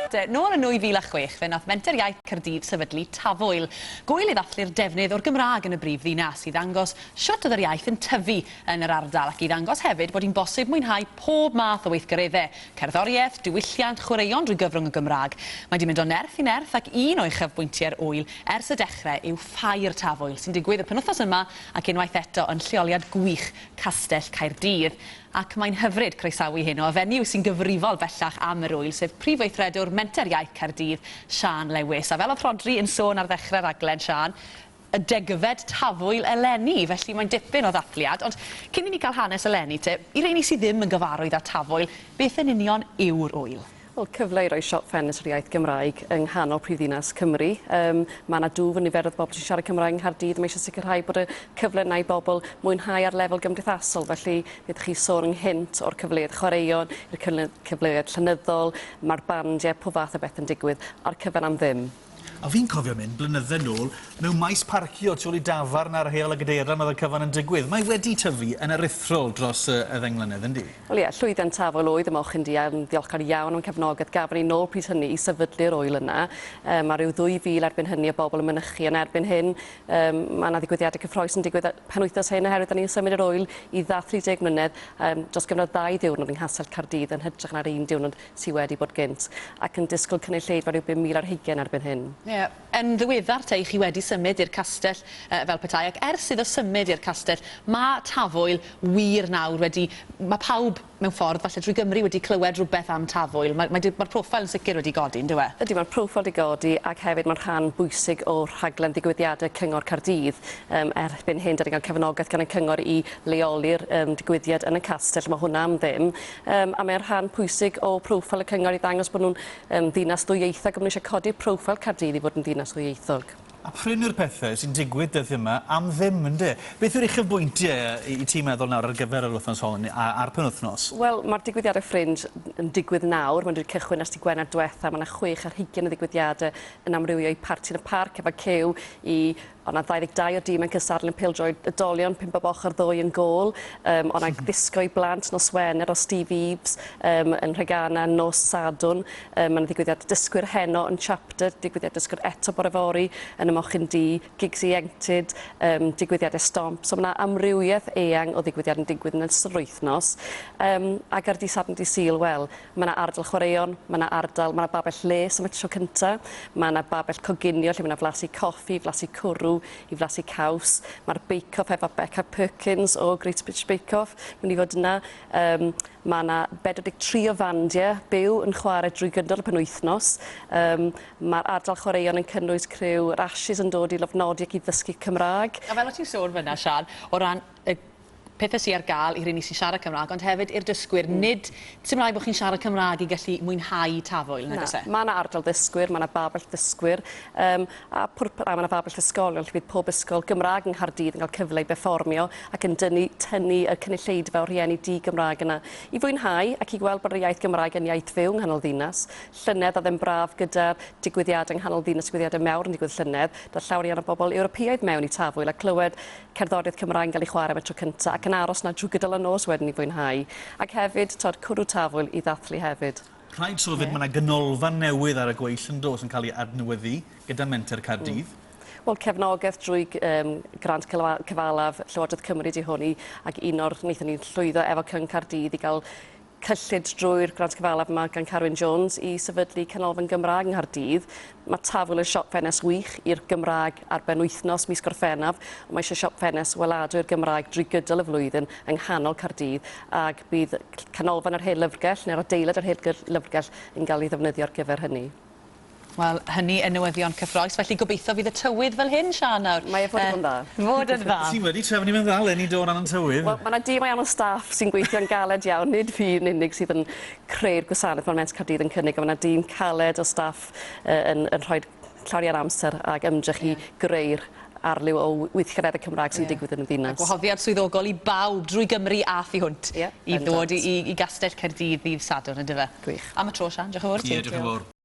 Nôl yn 2006, fe wnaeth Menter Iaith Caerdydd sefydlu Tafwyl, gŵyl i ddathlu'r defnydd o'r Gymraeg yn y brif ddinas, i ddangos shwt oedd yr iaith yn tyfu yn yr ardal ac i ddangos hefyd bod hi'n bosib mwynhau pob math o weithgareddau, cerddoriaeth, diwylliant, chwaraeon drwy gyfrwng y Gymraeg. Mae 'di mynd o nerth i nerth ac un o uchafbwyntiau'r ŵyl ers y dechrau yw Ffair Tafwyl, sy'n digwydd y penwythnos yma ac unwaith eto yn lleoliad gwych Castell Caerdydd. ac mae'n hyfryd croesawu hyn o y fenyw sy'n gyfrifol bellach am yr ŵyl, sef Prif Weithredwr Menter Iaith Caerdydd, Siân Lewis. A fel oedd Rhodri yn sôn ar ddechrau'r rhaglen, Siân, y degfed tafwyl eleni, felly mae'n dipyn o ddathliad. Ond cyn i ni gael hanes eleni te, i rheini sydd ddim yn gyfarwydd â tafwyl, beth yn union yw'r ŵyl? Wel, cyfle i roi siop ffenestr iaith Gymraeg yng nghanol prifddinas Cymru. Um, mae yna dwf yn niferoedd bobl sy'n siarad Cymraeg yng Nghaerdydd. Mae eisiau sicrhau bod y cyfle yna i bobl mwynhau ar lefel gymdeithasol. Felly, fe ydych chi sôn ynghynt o'r cyfleoedd chwaraeon, i'r cyfleoedd llenyddol, mae'r bandiau, pob fath o beth yn digwydd, a'r cyfan am ddim. A fi'n cofio mynd blynydde nôl mewn maes parcio tu ôl i dafarn ar Heol y Gadeirlan oedd y cyfan yn digwydd. Mae wedi tyfu yn aruthrol dros y y ddeng mlynedd, yndi? Wel ie, llwyddiant tafwyl oedd y mochyn du a yn ddiolchgar iawn o'n cefnogaeth gafon ni nôl pryd hynny i sefydlu'r ŵyl yna. Yym a ryw ddwy fil erbyn hynny o bobl yn mynychu ond erbyn hyn yym ma' 'na ddigwyddiade cyffroes yn digwydd y penwythnos hyn oherwydd 'da ni'n symud yr ŵyl i dda 30 mlynedd yym dros gyfnod ddau ddiwrnod yng Nghastell Caerdydd yn hytrach na'r un diwrnod sy wedi bod gynt, ac yn disgwyl cynulleidfa rhyw 5,000 ar hugain erbyn hyn. Ie. Yn ddiweddar te, chi wedi symud i'r castell yy fel petai, ac ers iddo symud i'r castell, ma' Tafwyl wir nawr wedi... ma' pawb, mewn ffordd, falle drwy Gymru wedi clywed rhywbeth am Tafwyl. Mae mae di- ma'r profile yn sicr wedi godi, yndyw e? Ydy, ma'r profile di godi, ac hefyd ma'n rhan bwysig o rhaglen ddigwyddiade Cyngor Caerdydd. Yym erbyn hyn, 'da ni'n cael cefnogaeth gan y cyngor i leoli'r yym digwyddiad yn y castell, a ma' hwnna am ddim. Yym, a mae'n rhan pwysig o proffil y cyngor i ddangos bod nhw'n yym, ddinas ddwyieithog, a maen nhw eisiau codi'r proffil Caerdydd i fod yn ddinas ddwyieithog. A prin yw'r pethau sy'n digwydd dyddiau yma am ddim, ynde? Beth yw'r uchafbwyntiau i ti meddwl nawr ar gyfer yr wythnos hon a'r penwythnos? Wel, mae'r digwyddiadau Fringe yn digwydd nawr, maen nhw wedi cychwyn ers dydd Gwener diwetha', mae 'na chwech ar hugain o ddigwyddiadau yn amrywio i Parti yn y Parc, efo cyw i Ond na 22 o dîm yn cystadlu yn pêl-droed oedolion, pump bob ochr ddwy yn gôl. Um, ond ag ddisgo i blant nos Wener o Steve Eves um, yn Rhegana nos Sadwn. Um, Mae'n ddigwyddiad dysgwyr heno yn Chapter, digwyddiad dysgwyr eto bore fori yn y Mochyn Di, gigs ieuenctid, um, digwyddiad estomp. So mae yna amrywiaeth eang o ddigwyddiad yn digwydd yn ystod yr wythnos. Um, ac ar di Sadwn di Sil, wel, Mae yna ardal chwaraeon, mae yna ardal, mae yna babell lles am y tro cyntaf, mae yna babell coginio lle mae yna flasu coffi, flasu cwrw, i flasu caws, mae'r bake-off efo Beca Perkins o Great British Bake Off, mynd i fod yna, um, mae yna 43 o fandiau byw yn chwarae drwy gydol y penwythnos, um, mae'r ardal chwaraeon yn cynnwys criw yr Ashes yn dod i lofnodi ac i ddysgu Cymraeg. A fel o ti'n sôn fyna, Sian, o ran y pethe sy ar gael i rheini sy'n siarad Cymraeg, ond hefyd i'r dysgwyr, nid sy'n rhaid bod chi'n siarad Cymraeg i gallu mwynhau Tafwyl, nag oes e? Mae yna ardal ddysgwyr, mae yna babell ddysgwyr, um, a, pwrp- a mae yna babell ysgolion lle bydd pob ysgol Gymraeg yng Nghaerdydd yn cael cyfle i berfformio ac yn dynnu, tynnu y cynulleidfa o rhieni di-Gymraeg yna i fwynhau ac i gweld bod yr iaith Gymraeg yn iaith fyw yng nghanol ddinas. Llynedd oedd e'n braf gyda'r digwyddiadau yng nghanol ddinas, digwyddiadau mawr yn digwydd llynedd, daeth llawer iawn o bobl Ewropeaidd mewn i Tafwyl a clywed cerddoriaeth Cymraeg yn cael ei chwarae am y tro cyntaf ac yn aros 'na drwy gydol y nos wedyn i fwynhau. Ac hefyd, tibod, cwrw tafwyl i ddathlu hefyd. Rhaid sôn 'fyd, mae 'na ganolfan newydd ar y gweill yn does, yn cael ei adnewyddu gyda Menter Caerdydd. Wel, cefnogaeth drwy yym grant cyfalaf Llywodraeth Cymru 'di hwn i ac un o'r wnaethon ni llwyddo efo Cyngor Caerdydd i gael cyllid drwy'r grant cyfalaf yma gan Carwyn Jones i sefydlu Canolfan Gymraeg yng Nghaerdydd. Mae Tafwyl yn siop ffenest wych i'r Gymraeg ar ben wythnos mis Gorffennaf. Mae eisiau siop ffenest weladwy i'r Gymraeg drwy gydol y flwyddyn yng nghanol Caerdydd ac bydd Canolfan yr Hen Lyfrgell neu'r adeilad yr Hen Lyfrgell yn cael ei ddefnyddio ar gyfer hynny. Wel, hynny yn newyddion cyffrous, felly gobeithio fydd y tywydd fel hyn, Siân, nawr. Mae e fod i fod yn dda. Fod yn dda. Ti wedi trefnu fe'n dda 'leni do, o ran y tywydd. Wel, ma' 'na dîm ariannol staff sy'n gweithio'n galed iawn, nid fi yn unig sydd yn creu'r gwasanaeth ma'r Met Caerdydd yn cynnig, a ma' 'na dîm caled o staff yy yn yn rhoid llawer iawn o amser ag ymdrech i greu'r arliw o w- weithgareddau Cymraeg sy'n digwydd yn y ddinas. A gwahoddiad swyddogol i bawb drwy Gymru a thu hwnt i ddod i i i Gastell Caerdydd ddydd Sadwrn, yndyfe? Gwych. Am y tro, Siân, diolch yn fowr. Ie, diolch yn fowr.